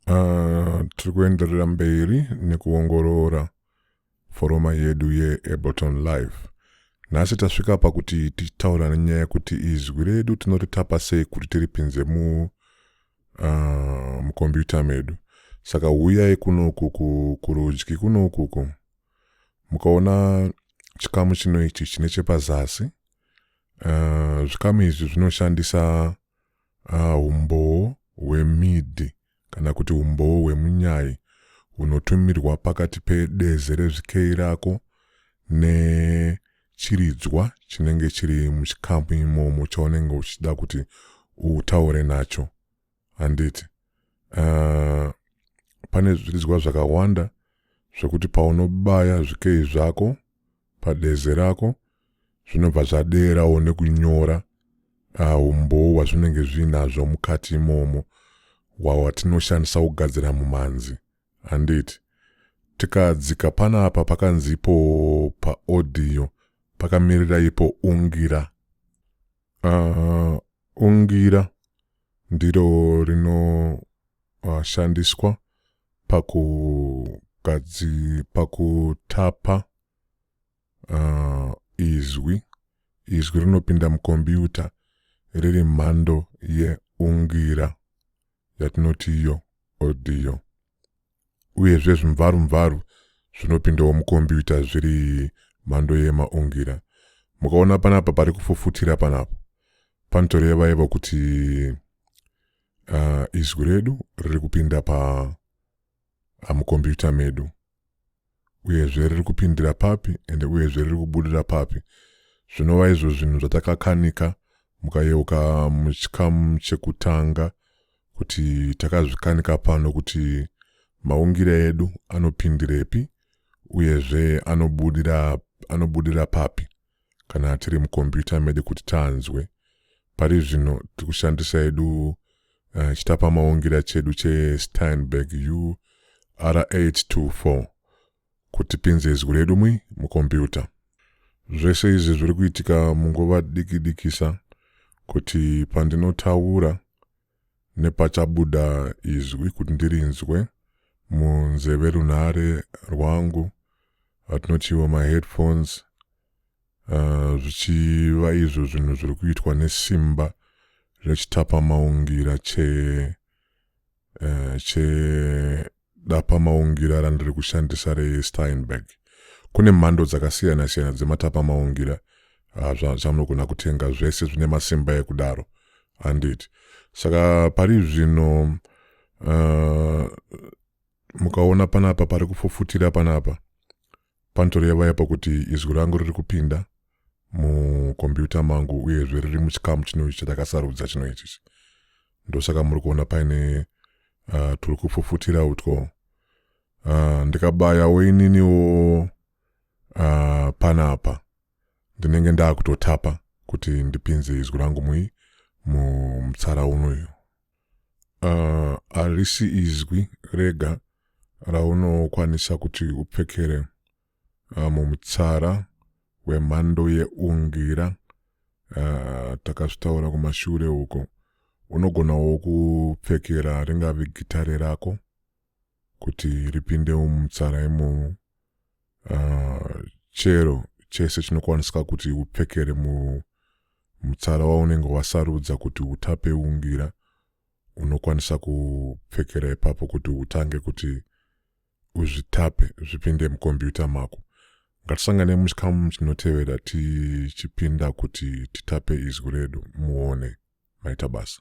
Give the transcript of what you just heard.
Uh, tiri kuenderera mberi nekuongorora foroma yedu yeableton live nhasi tasvika pakuti tichitaura nenyaya yekuti izwi redu tinoritapa sei kuti tiripinze mu uh, mukombiyuta medu saka huyai kunoku kurudyi kunokuku mukaona chikamu chino ichi chine chepazasi uh, zvikamu izvi zvinoshandisa ah, umbowo uh, hwemidhi kana kuti umbowo hwemunyai hunotumirwa pakati pedeze rezvikei rako nechiridzwa chinenge chiri muchikamu imomo chaunenge uchida kuti utaure nacho handiti uh, pane zviridzwa zvakawanda zvekuti paunobaya zvikei zvako padeze rako zvinobva zvadeerawo nekunyora uh, umbowo hwazvinenge zviinazvo mukati imomo wawatinoshandisa kugadzira mumanzi handiti tikadzika panapa pakanzi ipo paodhiyo pakamirira ipo ungira Uh, ungira ndiro rinoshandiswa uh, pakugadzi pakutapa uh, izwi izwi rinopinda mukombiyuta riri mhando yeungira yatinoti iyo audio uyezve zvimvarumvaru zvinopindawo mukombiyuta zviri mhando yemaungira mukaona panapa pari kufufutira panapa panotoreva ivo kuti uh, izwi redu riri kupinda pa amukombiyuta medu uyezve riri kupindira papi ende uyezve riri kubudira papi zvinova izvo zvinhu zvatakakanika mukayeuka muchikamu chekutanga kuti takazvikanika pano kuti maungire edu anopindirepi uyezve anobudira anobudira papi kana tiri mukombiyuta medu kuti tanzwe pari zvino tiri kushandisa yedu uh, eh, chitapamaungira chedu chesteinberg ur824 kuti pinze izwi redu mwi mukombiyuta zvese izvi zviri kuitika munguva dikidikisa kuti pandinotaura Nepachabuda izwi kuti ndirinzwe munzeve runhare rwangu atinotiwo maheadphones uh, zvichiva izvo zvinhu zviri kuitwa nesimba rechitapamaungira che uh, che Dapa maungira randiri kushandisa reSteinberg. Kune mhando dzakasiyana siyana dzematapa maungira ah, zvamunogona kutenga zvese zvine masimba ekudaro handiti saka pari zvino uh, mukaona panapa pari kufufutira panapa Panotoreva ipa kuti izwi rangu riri kupinda mukombiyuta mangu uyezve riri muchikamu chino ichi chatakasarudza chino ichichi ndosaka muri kuona paine uh, turi kupfupfutira utwo uh, ndikabayawo ininiwo uh, panapa ndinenge ndaakutotapa kuti ndipinze izwi rangu mui mumutsara unoyu uh, harisi izwi rega raunokwanisa kuti upfekere uh, mumutsara wemhando yeungira uh, takazvitaura kumashure uko unogonawo kupfekera ringave gitare rako kuti ripindewo mumutsara imomo uh, chero chese chinokwanisika kuti upfekere mu mutsara waunenge wasarudza kuti utape ungira unokwanisa kupfekera ipapo kuti utange kuti uzvitape zvipinde mukombiyuta mako ngatisangane muchikamu chinotevera tichipinda kuti titape izwi redu muone maita basa